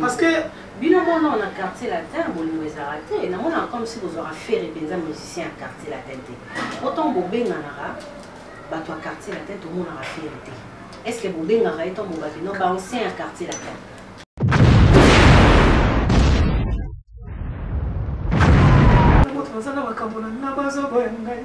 parce que bino mona na quartier latin bolingo ezalaka te namonaka comme si bozwaka fere mpenza musicien ya quartier latin te otango bobenganaka bato ya quartier latin tomonaka fere te est ce que bobengaka ye ntango bobaki no baancien ya quartier latin baza na makambo na ngai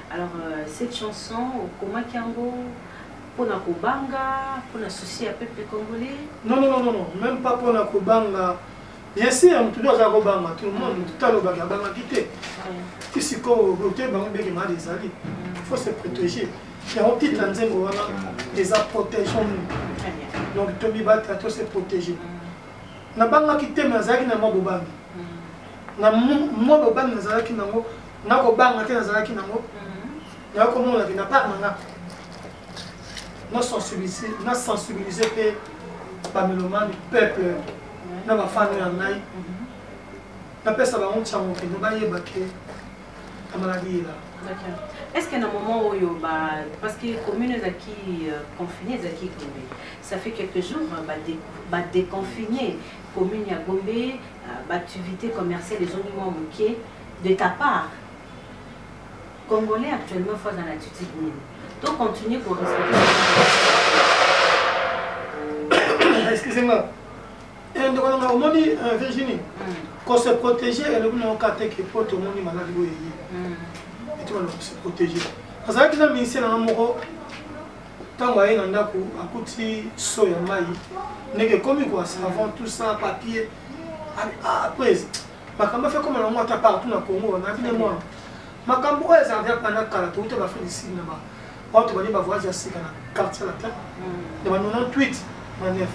Alors euh, cette chanson okomaki yango pona kobanga pona souci ya peuple congolais non, non, non, non, même pas pona kobanga bien sûr motu nde aza kobanga tout le monde motu talobaki abangaki te ti sikoyo bote bango beke mali ezali mm. faut se protéger yango titre ya nzembo wana eza protégeons nous donc tobibata to se protéger mm. nabangaki te me nazalaki na mwa bobangi mm. na mwa bobangi nazalaki nango na kobanga te nazalaki nango nayo komona ke na part na nga na sensibilize mpe bamelomani peuple na bafano ya ngai napesa bango ntiango kende bayeba ke amaladi yela est ce que na moment oyo parce que commune ezalaki euh, confiné ezalaki gombe ça fait quelques jours badéconfiné commune ya gombe euh, baactivité commerciale ezongi mwa moke de ta part congolais actuellement faut aza na attitude nini to continue ko excusez-moi eh, ndeko nanga omoni euh, virginie hmm. ko se protéger elobi nango ka te ke po tomoni maladi oyo eye hmm. etikana ko se protéger azalaki na ministre nanga moko ntango aye na ndako akuti so ya mai ndenge ekomi koa savant tout ça papier après makambo afe ekoma nango ata partout na congo wana bine mwana makambo oyo ezala deja banda kala touta baafrique du sud na ba bato bani bavoyage ya sika na quartier latin hmm. na ba 98 na 9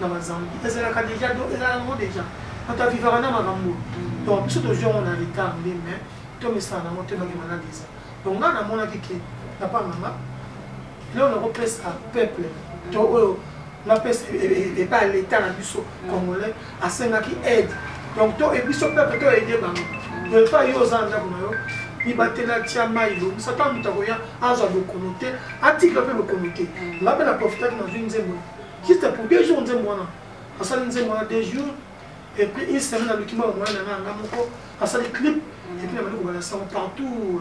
na bazambi ezalaka deja ezalaka yango deja bato avivaka na makambo hmm. donc biso tozwi yango na retard nde mais tomesana yango te bange maladi eza donc ngai namonaki ke na part na ngai lelo nakopesa peuple to oyo napesa epa ya leta na biso congolais asengaki aide donc to biso peuple to aide bango to epa yo oza na ndako na yo mibatela tia mai lobisa ntango moto akoya azwa bokono te atikla mpe bokono te nga mpe na profitaki nazwi nzembo juste pour deux jours nzembo wana asali nzembo wana deux jours et puis une semaine aluki mwa bamoya na nga nga moko asali clip et puis nabandi kobala sango partout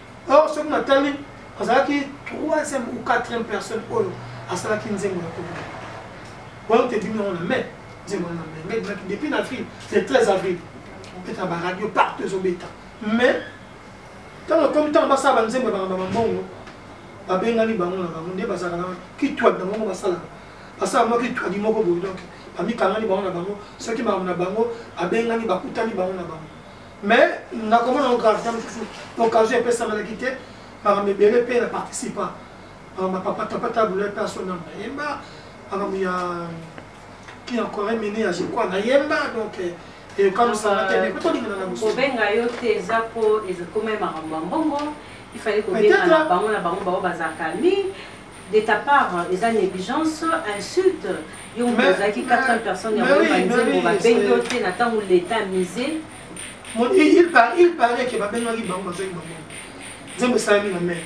or soki natali azalaki troisième ou quatrième personne oyo asalaki nzembo ya kobima wana tebimi yango na mai nzembo wana na mai ngai ebimaki depuis na avril le 13 avril obeta baradio partout ezobeta mais ntango ekomi ntango basala banzembo ya bakamba bambongo babengani bango na bango nde bazalaka na kitwadi na bango basalaka basala mwa kitwadi moko boye donc bamikangani bango na bango soki makambo na bango abengani bakutani bango na bango mais nakomona ngo gravité mosusu occasion epesamelaki te makambo ebele mpe na participa makambo ya papa tapa tabule mpe asona nayemba makambo ya ki ya coré mini ya jekwa nayemba donc eh, ekokamwisana te mais tolingana na mosusu kobenga yo te eza mpo ekomai makambo ya mbongo ifali kobenga na bango na bango bango bazalaka nini de ta part eza negligence insulte yo moto ozalaki 400 personnes ya oyeba nzembo babengi yo te na ntango leta mise il paraît ke babengaki bango bazwaki bango nzembo esalami na mare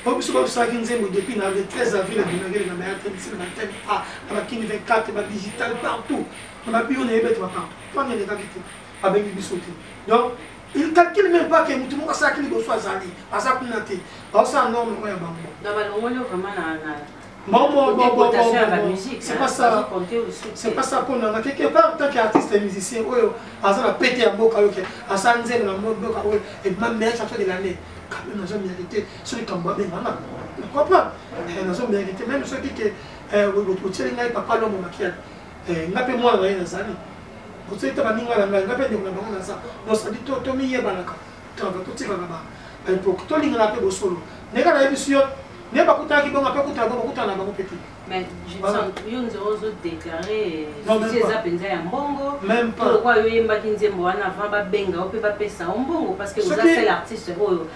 po biso babisalaki nzembo depuis na le 13 avril abimaki na mare atendisi na bateme a na bakini 24 badigital partout na babio na ye bete bapartout po anelekaki te babengi biso te donc Il calcule même pas que mutu moko asalaki liboso azali aza kuna te baosala ndoo moko ya bango c'est pas ça c'est pas ça mpo nanga quelque part tant que artiste et musicien oyo aza na pete ya mboka oyo ke asala nzembo na mboka oyo ebima meilleur chanteur de l'année quand même nazo mérité soki likambo abenga nga comprendre nazo mérité même soki ke otyeli ngai papa longo makiana eh, nga mpe mwana na ye nazali kosalita baninga na ngai nga mpe ndeko na bango naza nosadi tomiyebanaka travail totikaka ba baepoke tolingana mpe bosolo ndenge nayebisi yo nde bakutanaki bongo mpe kutana bango bakutana na bango mpe te mais yo nze ozodeklare susi eza mpenza ya mbongo lokwa yo oyembaki nzembo wana avant babenga yo mpe bapesa yo mbongo parce que oza sel artiste oyo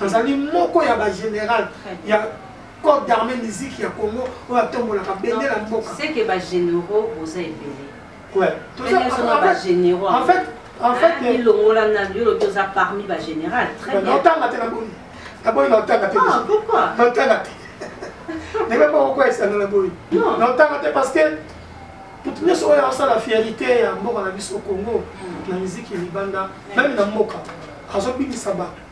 azali moko ya ba general ya corps d'armée musique ya congo oyo atombolaka bendela mboka seke ba généraux boza ebele ouais toza ba généraux en fait en fait ah, ilongola na yo lobi oza parmi ba général très bien otanga te na boni na boni na otanga te ah pourquoi na otanga te ndenge moko koyesana na boni na otanga te parce que moto nyonso oyo asala fierité ya mboka na biso congo hmm. na miziki libanda meme na mboka azobimisa bato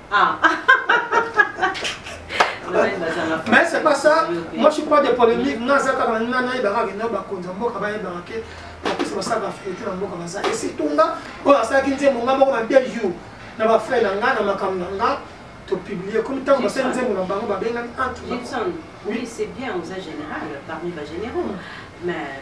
Ah. mais c'est pas ça moi je suis pas de polémique nga aza kaka nina nayebaka kino bakonzi ya mboka bayebaka ke bakosi basalaka verité na mboka baza et surtout nga oyo asalaki nzembo nga moko na deux jours na bafrai na nga na makambo na nga topublie komi ntango basali nzembo na bango babengani entre oui c'est bien oza général parmi bagénéraux mais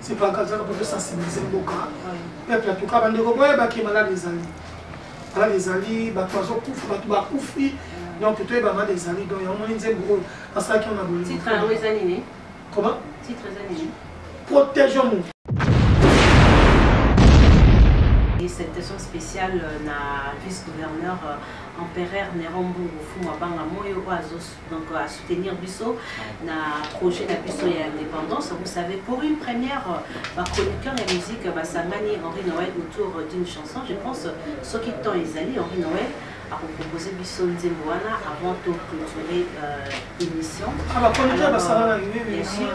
c'est pas grave zaka poto sensibiliser mboka peuple en tout cas bandeko boyeba ke malade ezali malade ezali bato bazokufa bato bakufi donc toyeba malade ezali donc yango moni nzembo oyo basalaki yango na bolingo comment protegeons nous Et cette session spéciale euh, na vice-gouverneur euh, empereur Nerombo Fumabanga Moyo Oazos donc à euh, soutenir biso na projet na biso ya indépendance vous savez pour une première euh, chroniqueur ya musique euh, basangani henri noël autour d'une chanson je pense soki temps ezali henri noël akopropose biso nzembo wana avant to clôturer euh, émission ah, bah, alors, euh, bien sûr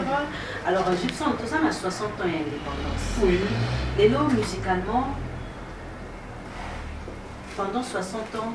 alors gibson toza na 60 ans ya indépendance oui. lelo musicalement pendant 60 ans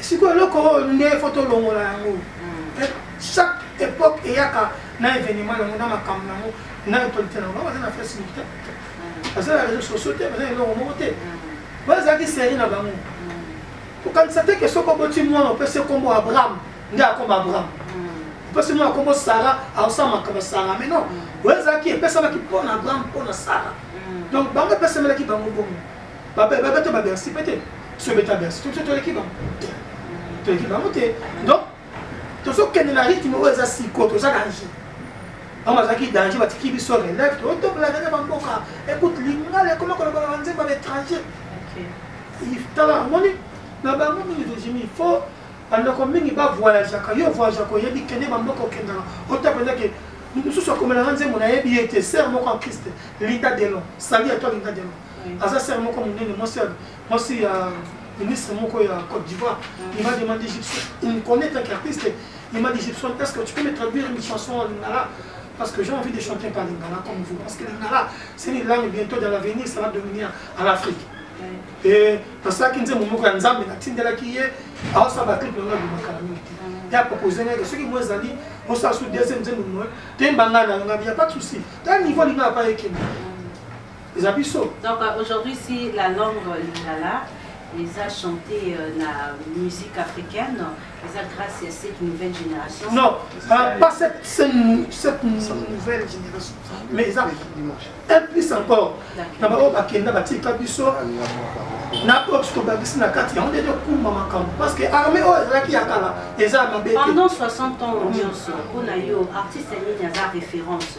sikoyo eloko oyo nde fo tolongola yango mm. eh, chaque époque eyaka na événement nango na makambo nango na autorité nango baza na facebook te mm. baza na réseau sociaux te baza na eloko moko te mm. bazalaki série na bango kokanisa te ke soki oboti mwana opesi nkombo abraham nde akoma abraham opesi mwana nkombo sara aosamaka basara mais non oyo ezalaki epesamaki mpo na abraham mpo na sara donc bango epesamelaki bango bongo babeta babersi mpe te soki obeta bersi to biso toleki bango te toleki bango te donc tozokende na rythme oyo eza siko toza danger bango bazalaki danger batiki biso relève totoblaka na bamboka ekute lingala ekoma kolobaka banzembo ya baétranger tala amoni na bango mingi tozimi il faut bandako mingi bavoyageaka yo voyageaka oyebi kende bamboka okendaka otapendake mosusu akomelanga nzembo nayebi ye te ser moko en christ linda delon sali ya to linda delon aza sere moko monene mwasi ya ministre moko ya côte d'ivoire il m'a demandé gibson il me connaît tant qu'artiste il m'a dit gibson est ce que tu peux me traduire une chanson en lingala parce que j'ai envie de chanter par lingala comme vous parce que lingala c'est une langue bientôt dans l'avenir ça va devenir à l'afrique e nasalaki nzembo moko ya nzambe natindelaki ye aosala baclip yango abimakala mingi te ye apropose ngai soki mo ezali osala su deuxième nzembo moye toyemba ngai na yango ya pas de souci ta niveau alinga apa ekende eza biso donc euh, aujourd'hui si la langue lingala eza chanté euh, na musique africaine eza grâce à cette nouvelle génération non pas, pas cette, cette, cette nouvelle génération mais eza un plus encore na baoyo bakenda batika biso na oyo tobakisi na kati yango nde tokuma makambo parce que armée oyo ezalaki ya kala eza mabe pendant 60 ans nyonso mpo na yo artiste nini aza référence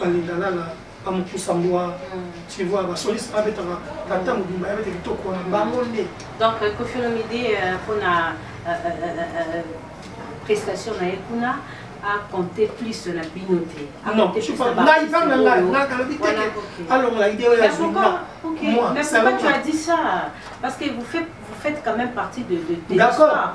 balinga lala bamokusa mbwa tivoa basoliste babetaka kata mobimba ya bete kitoko wana bango nde donc euh, kofilomide euh, mpona euh, prestation na ye kuna aconte plus na bino te ngai mpe na ngai nakalobi teke alongola ide oyo ya zuma moi c'est pourquoi tu as dit ça parce que vous faites vous faites quand même partie de, de, de D'accord.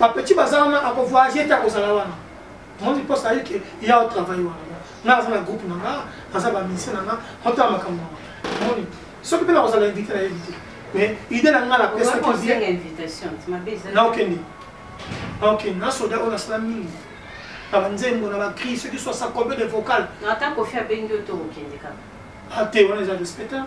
ba petit baza wana ako voyager te akozala wana mondi mposa ayi ke ya otravaille wana nga aza na groupe na nga aza bamise na nga otala makambo na nga moni soki mpe nakozala invité na yebi te mais idée na nga napesaki naokende naokende na soda oyo nasala mingi na banzembo na bacri soki sosa combien de vocal ata kofi abengi yo tokokende kaka ate ah, wana eza respecta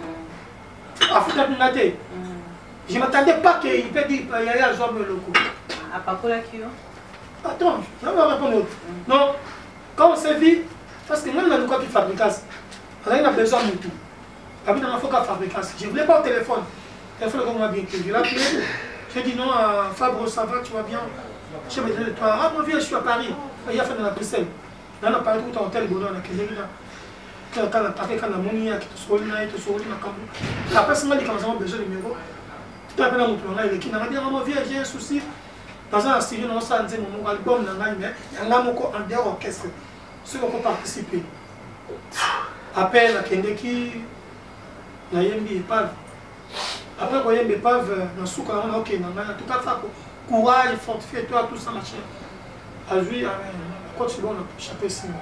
mm. afutaki nga te mm. je m'attendais pas que il peut dire yaya euh, azwa boloko ah, apakolaki yo attends yango arépondre mm. non quand on se vit parce que ngai nalukaki fabricas azali na besoin mutu abi nanga foka fabricas je voulais pas au téléphone téléphone ekokoma bien te je l'appelé je dis non euh, fabro ça va tu vas bien je me dis toi ah mon vieux je suis à paris il y a fait dans la bruxelles nga na parke kuta hotel bondo wana nakendeki na tala tala parke kaka namoni yaki tosokoli na ye tosokoli makambo apesi nga likambo sango besoin numero to apena moto na ngai eleki na ngai bianga mo vie j'ai un souci naza na studio na osala nzembo moko album na ngai mais yanga moko en dehors orchestre soki oko participe apel akendeki nayembi epave après koyemba epave na suka yango naokenda ngai na tuka fako courage fortifie toi tout ça machin azwi akoti bongo na poche ape nsima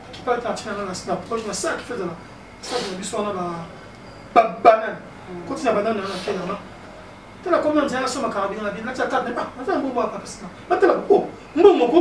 akipaki atina nga na poche na saki feza na saki na biso wana babanane koti na banane wana akenda nga tala komi na nzela nasomaka bino na bino natia tata naza mbongo apapasina batala o mbongo ko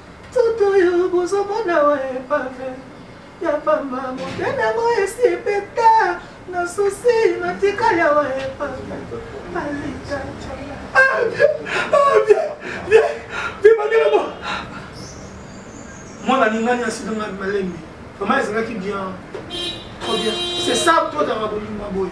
Toto oyo bozo mona wa epave ya pamba mobe nango esi epeta na susi natika ya wa epave alita bibangelamo mwana alingani asidanga malembe vraiment ezalaki bien trop bien c'est ça to otanga bolingo boye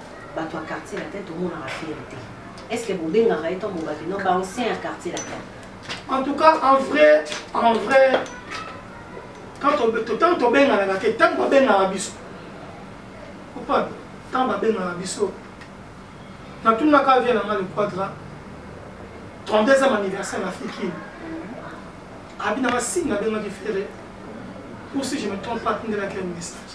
bato ya quartier latin tomonaka fiere te est ce que bobengaka ye ntango bobaki no baancien ya quartier latin en tout cas en vrai en vrai ntango tobenganaka te ntango babengaka biso opa ntango babengaka biso natunaka vie na nga le quadra 32 ans anniversaire na fikini abinaka sini nabengaki ferre ou si je me trompe pas atindelaki un message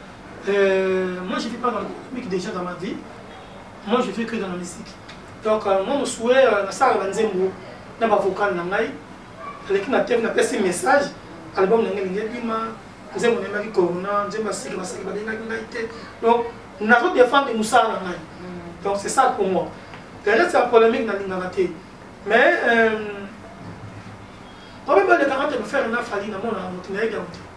Euh, moi je vis pas dans le déjà dans ma vie. Moi je vis que dans la musique. Donc euh, moi mon souhait euh, na sala banzembo na ba vocal na ngai. Aleki na teve na pesi message album na ngai ngai bima nzembo na ngai corona nzembo ya sika basaki babengaki ngai te. Donc nazo défendre mosala na ngai. Mm. Donc c'est ça pour moi. Le reste ya polémique nalingaka te. Mais euh, problème balekaka te faire na fali na mona moto na ye yango te.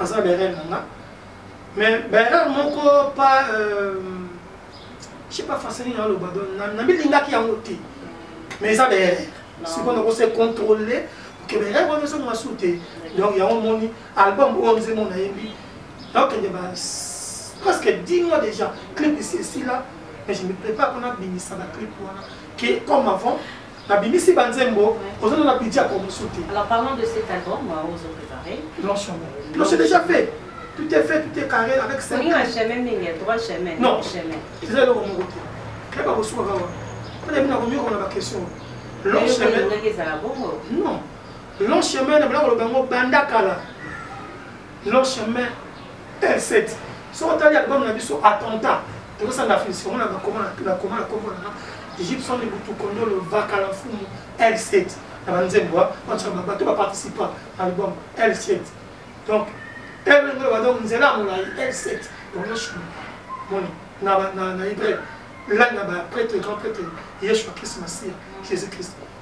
aza berere na nga mais berere moko pa euh, je sais pas français nini aloba don namilingaki yango te mais eza berere sikoyo nakose contrôle ke berere wana ezonga su te donc yango omoni album oyo nzembo nayembi nakende ba presque 10 mois déjà clip esi esila mais je me prépare mpona bimisa baclip wana ke comme avant nabimisi ba nzembo oza na na pidja ko musu te alors parlons de cet album moi ozo préparer non chemin non c'est déjà fait tout est fait tout est carré avec ça olinga chemin mingi droit chemin non chemin eza eloko moko te kayeba kosuka kaka mpona bino nakomiyoka na baquestion long chemin non long chemin na bala koloba yango banda kala Nos chemins L7 soki otali album na biso attentat tokosanga fisi omona bakoma na koma na kombo na Gibson Ibutu Kondolo Vakala Mfumu L7 na banzembo banso bato baparticipa na album L7 donc elenge ba donc nzela ya molai L7 omoshumi moni na hébreu lani na baprêtre grand prêtre yeshua christ masiya jésus christ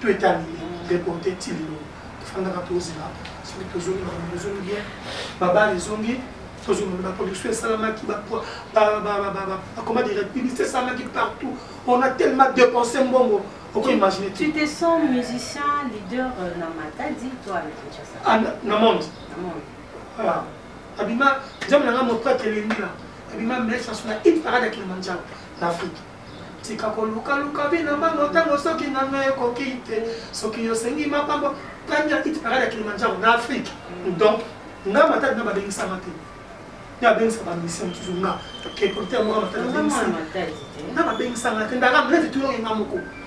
to etali reporte ti lelo tofandaka tozela soki tozongi makambo ezongi bien babale ezongi tozongi baproduction esalamaki bakoma direct publicité esalamaki partout on a tellement dépensé mbongo okoimagine tu te sens musicien leader euh, na matadi to avec kinshasa ah, na monde ah, abima nzambe na ngai mopratre elendila abima mesa sona hit parade ya kilimanjaro na afrique tika kolukaluka bino bango ntango soki nano ekoki te soki yosengi mapambo tanya iti parade ya kilimanjaro na afrike donc nga matadi na babengisama te nde abengisa bamisi mosusu nga kepolite ya moka matadi na babengisanga te ndaka mlete tuyoki nga moko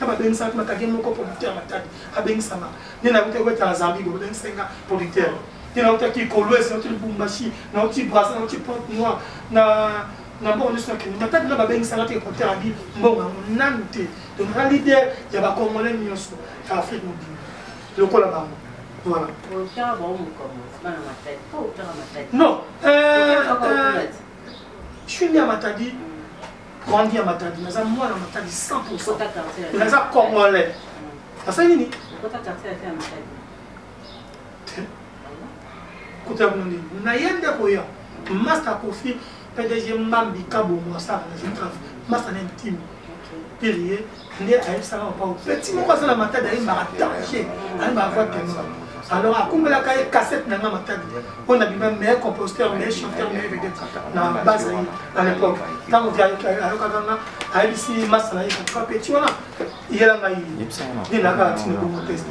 na babengisaka kuna kake moko producteur matadi abengisama nde nakuta kotala zambi bo babengisaki nga producteur nde nautaki kolwesi nauti lubumbashi nauti brasa nauti pointe noir na na mbongo nyonso nakende matadi na babengisaka te producteur abi mbongo yango nanu te donc na leader ya bacongolais nyonso ya afrique mobimba lokola bango voilà non euh, euh, je suis né à matadi grandi ya matadi naza mwana matadi 100 naza congolais asali nini kuta yango nini na ye nde koya masta kofi pdg mbambi kabongo asala na zitraf masta na intime pilier nde ayebisaka papa petit moko aza na matadi ayembaka danger ayembaka voix tenor alors akumbelaka ye cassette na nga matadi mpo na bima meilleur compositeur meilleur chanteur meilleur vedette na base na ye na l'époque ntango ayokaka nga ayebisi masa na ye katuka petit wana yela ngai nde nakaka tina bongo teste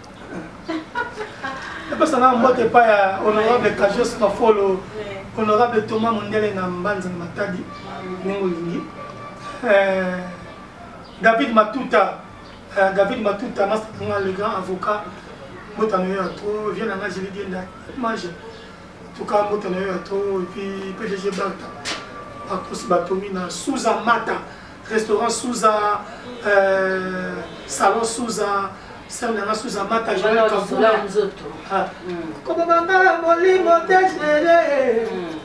epesa na mbote epai ya honorable kajos mafolo honorable thomas mondele na mbanza na matadi ndenge olingi eh, david matuta eh, david matuta masaanga le grand avocat mbote na yo ya tro vie na nga jeli dienda mage tuka mbote na yo ya tro epuis pdg barta bakosi batomi na suza mata restaurant Souza, euh, salon Souza, sœur nanga Souza Mata, Joël Kafula. Ah. Hmm. Koma banga molimo dejere. Hmm.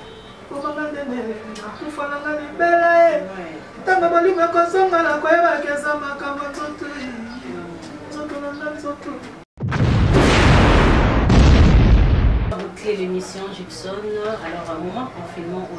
Koma banga nene, nakufa nanga libela e. Eh. Ntango molimo ekozonga na koyebaki eza makambo nzoto nzoto na nga nzoto. Boucler l'émission Gibson, alors un moment confinement au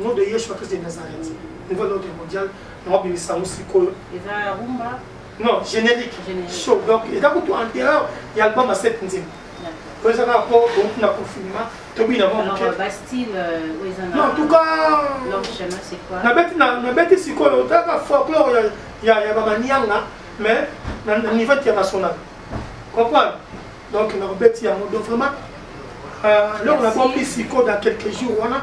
nom de Yeshua Christ de Nazareth niveau de l'ordre mondial naobimisa yango sikoyo non générique show donc eza kutu anterieur ya album ya sept nzembo oyo eza kaka mpo outi na confinement tobina mwa moke en tout cas nabeti sikoyo otalaka folklore ya bamanianga mais na niveau international comprendre donc nakobeti yango donc vraiment eloko nabombisi koda quelques jours wana